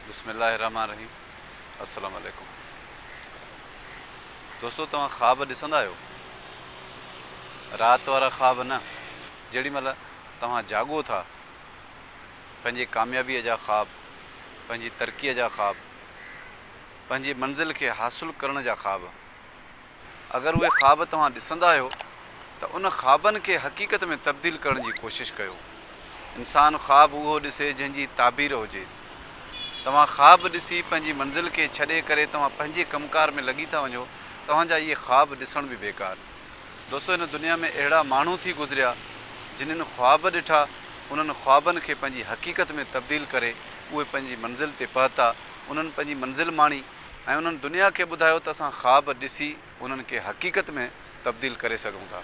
بسم الله الرحمٰن الرحيم السلام عليڪم دوستو توهان خواب ڏسندا آهيو رات وارا خواب نه جيڏي مهل توهان جاڳو ٿا پنهنجي ڪاميابي جا خواب پنهنجي ترقي جا خواب پنهنجي منزل کي حاصل ڪرڻ جا خواب اگر اهي خواب توهان ڏسندا آهيو ته ان خوابن کي حقيقت ۾ تبديل ڪرڻ جي ڪوشش ڪيو. انسان خواب اهو ڏسي جنهن جي تعبير هجي. توهان خواب ڏسي پنهنجي منزل کي ڇڏي ڪري توهان پنهنجي ڪم ڪار ۾ لڳي ٿا وڃو توهان جا اهي خواب ڏسڻ به بيڪار. دوستو هن دنيا ۾ اهڙا ماڻهو ٿي گذريا جنھن خواب ڏٺا انهن خوابن کي پنهنجي حقيقت ۾ تبديل ڪري اهي پنهنجي منزل تي پهتا انهن پنهنجي منزل ماڻي. ۽ انهن دنيا کي ٻڌايو ته اسان خواب ڏسي انهن کي حقيقت ۾ تبديل ڪري سگهون ٿا.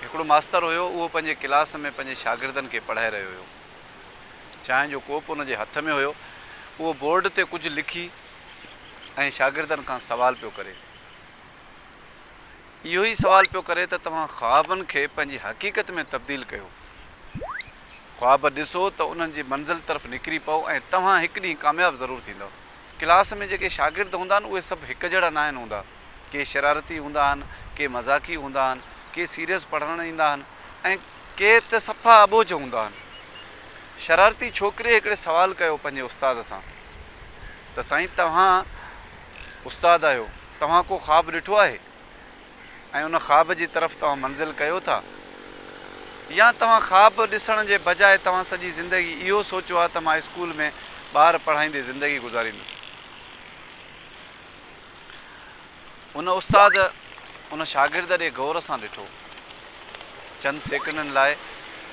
هڪڙو ماستر هيو اهو پنهنجي ڪلاس ۾ پنهنجي شاگردن کي پڙهائي رهيو هيو. چانهه جو ڪوپ ان جي هٿ ۾ هيو اهو بورڊ تي ڪجهه لکي ۽ شاگردن کان سوال پيو ڪري. اهو ئي سوال پيو ڪري ته توهان خوابن کي پنهنجي حقيقت ۾ تبديل ڪيو. خواب ڏسو ته انهن جي منزل طرف نڪري پئو ۽ توهان هڪ ڏينهن ڪامياب ضرور ٿيندؤ. ڪلاس ۾ جيڪي شاگرد هوندا آهن اهي سڀ هڪ جهڙا ناهن هوندا. ڪي شرارتي هوندا آهن، ڪي مذاقي هوندا آهن، ڪي سيريس پڙهڻ ايندا آهن ۽ ڪي ته صفا اٻوجهه هوندا آهن. شرارتي ڇوڪري هڪڙي سوال ڪيو پنهنجي استاد سان ته سائين توهان استاد آهيو توهان ڪو خواب ڏٺو آهي؟ ۽ ان خواب جي طرف توهان منزل ڪيو ٿا يا توهان خواب ڏسڻ جي بجاء توهان سڄي زندگي اهو سوچيو آهي ته مان اسڪول ۾ ٻار پڙهائيندي زندگي گذاريندس. ان استاد ان شاگرد ڏي غور سان ڏٺو. چند سيڪنڊن لاء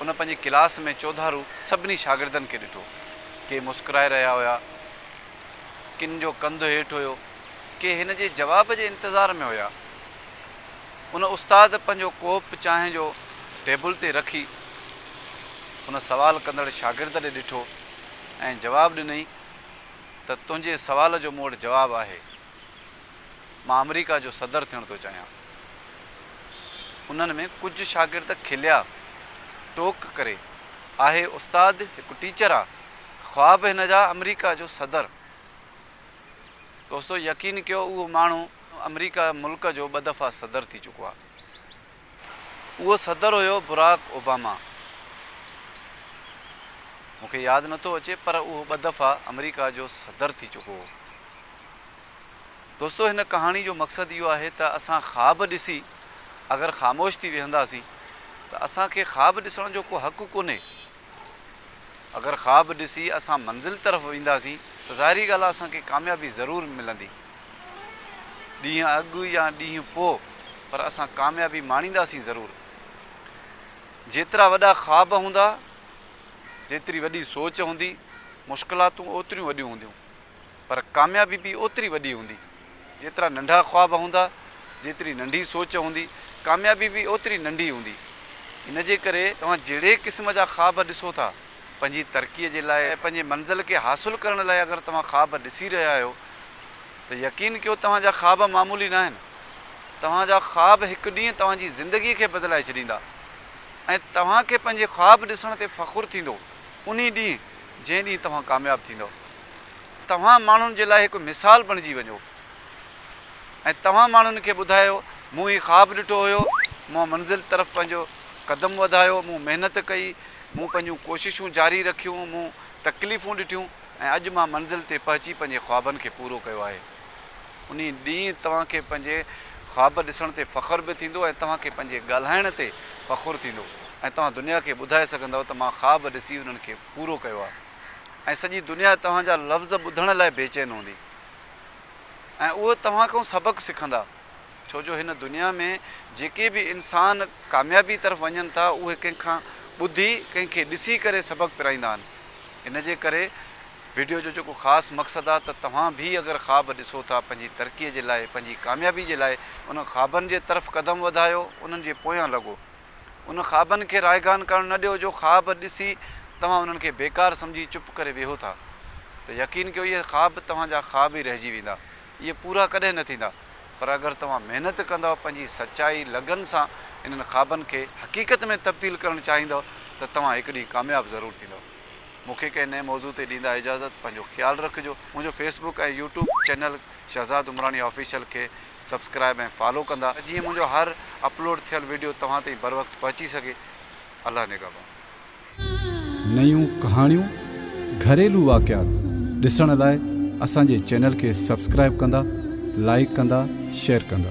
ان پنهنجي ڪلاس ۾ چوڌارو سڀني شاگردن کي ڏٺو. ڪي مسڪرائي رهيا هيا، ڪن جو ڪنڌ هيٺ هيو. ڪي هن جي جواب جي انتظار ۾ هيا. ان استاد پنهنجو ڪوپ چانهه جو ٽيبل تي رکي ان سوال ڪندڙ شاگرد ڏي ڏٺو ۽ جواب ڏنئين ته تنهنجي سوال جو مون وٽ جواب آهي. مان آمريڪا جو صدر ٿيڻ ٿو چاهيان. انهن ۾ ڪجهه شاگرد کليا. ٽوڪ ڪري، آهي استاد هڪ ٽيچر آ. خواب هن جا آمريڪا جو صدر. دوستو يقين ڪيو اهو ماڻهو آمريڪا ملڪ جو ٻه دفعا صدر ٿي چڪو آ اهو صدر هيو براڪ اوباما مون کي ياد نٿو اچي پر اهو ٻه دفعا آمريڪا جو صدر ٿي چڪو هو دوستو هن ڪهاڻي جو مقصد اهو آهي ته اسان خواب ڏسي اگر خاموش ٿي ويهنداسين ته اسان کي خواب ڏسڻ جو ڪو حق ڪونهي اگر خواب ڏسي اسان منزل طرف وينداسين ته ظاهري ڳالهه آهي اسان کي ڪاميابي ضرور ملندي. ڏينهن اڳ يا ڏينهن پوء پر اسان ڪاميابي ماڻينداسين ضرور. جيترا وڏا خواب هوندا، جيتري وڏي سوچ هوندي، مشڪلاتون اوتريون وڏيون هونديون. پر ڪاميابي به اوتري وڏي هوندي. جيترا ننڍا خواب هوندا، جيتري ننڍي سوچ هوندي، ڪاميابي به اوتري ننڍي هوندي. ان جي ڪري توهان جهڙي قسم جا خواب ڏسو ٿا، پنهنجي ترقيء جي لاء ۽ پنهنجي منزل کي حاصل ڪرڻ لاء اگر توهان خواب ڏسي رهيا آهيو ته يقين ڪيو توهان جا خواب معمولي ناهن. توهان جا خواب هڪ ڏينهن توهان جي زندگيء کي بدلائي ڇڏيندا ۽ توهان کي پنهنجي خواب ڏسڻ تي فخر ٿيندو انهي ڏينهن جنهن ڏينهن توهان ڪامياب ٿيندؤ. توهان ماڻهن جي لاء هڪ مثال بڻجي وڃو ۽ توهان ماڻهن کي ٻڌايو، مون هي خواب ڏٺو هيو، مون منزل طرف پنهنجو قدم وڌايو، مون محنت ڪئي، مون پنهنجون ڪوششون جاري رکيون، مون تڪليفون ڏٺيون ۽ اڄ مان منزل تي پهچي پنهنجي خوابن کي پورو ڪيو آهي. انهي ڏينهن توهان کي پنهنجي خواب ڏسڻ تي فخر به ٿيندو ۽ توهان کي پنهنجي ڳالهائڻ تي فخر ٿيندو ۽ توهان دنيا کي ٻڌائي سگهندؤ ته مان خواب ڏسي انهن کي پورو ڪيو آهي. ۽ سڄي دنيا توهان جا لفظ ٻڌڻ لاء بيچين هوندي ۽ اهي توهان کان سبق سکندا ڇو جو هن دنيا ۾ جيڪي به انسان ڪاميابي طرف وڃن ٿا اهي ڪنهن کان ٻڌي ڪنهن کي ڏسي ڪري سبق پرائيندا آهن ان جي ڪري وڊيو جو جيڪو خاص مقصد آهي ته توهان به اگر خواب ڏسو ٿا پنهنجي ترقي جي لاء پنهنجي ڪاميابي جي لاء انهن خوابن جي طرف قدم وڌايو انهن جي پويان لڳو. ان خوابن کي رائگان ڪرڻ نه ڏيو جو خواب ڏسي توهان انهن کي بيڪار سمجهي چپ ڪري ويهو ٿا ته يقين ڪيو اهي خواب توهان جا خواب ئي رهجي ويندا اهي پورا ڪڏهن نه ٿيندا پر اگر توهان محنت ڪندؤ پنهنجي سچائي لگن سان انهن خوابن کي حقيقت ۾ تبديل ڪرڻ چاهيندؤ ته توهان هڪ ڏينهن ڪامياب ضرور ٿيندؤ. مون کي ڪنهن نئين موضوع تي ڏيندا اجازت پنهنجو خيال رکجو منهنجو Facebook ۽ YouTube channel. Shahzad Umrani official کي سبسڪرائب ۽ فالو ڪندا جيئن منهنجو هر اپلوڊ ٿيل وڊيو توهان تائين بروقت پهچي سگهي الله نگهبان. نيون ڪهاڻيون، گهريلو واقعات ڏسڻ لاء اسان جي چينل کي سبسڪرائب ڪندا، لائيڪ ڪندا، شيئر ڪندا.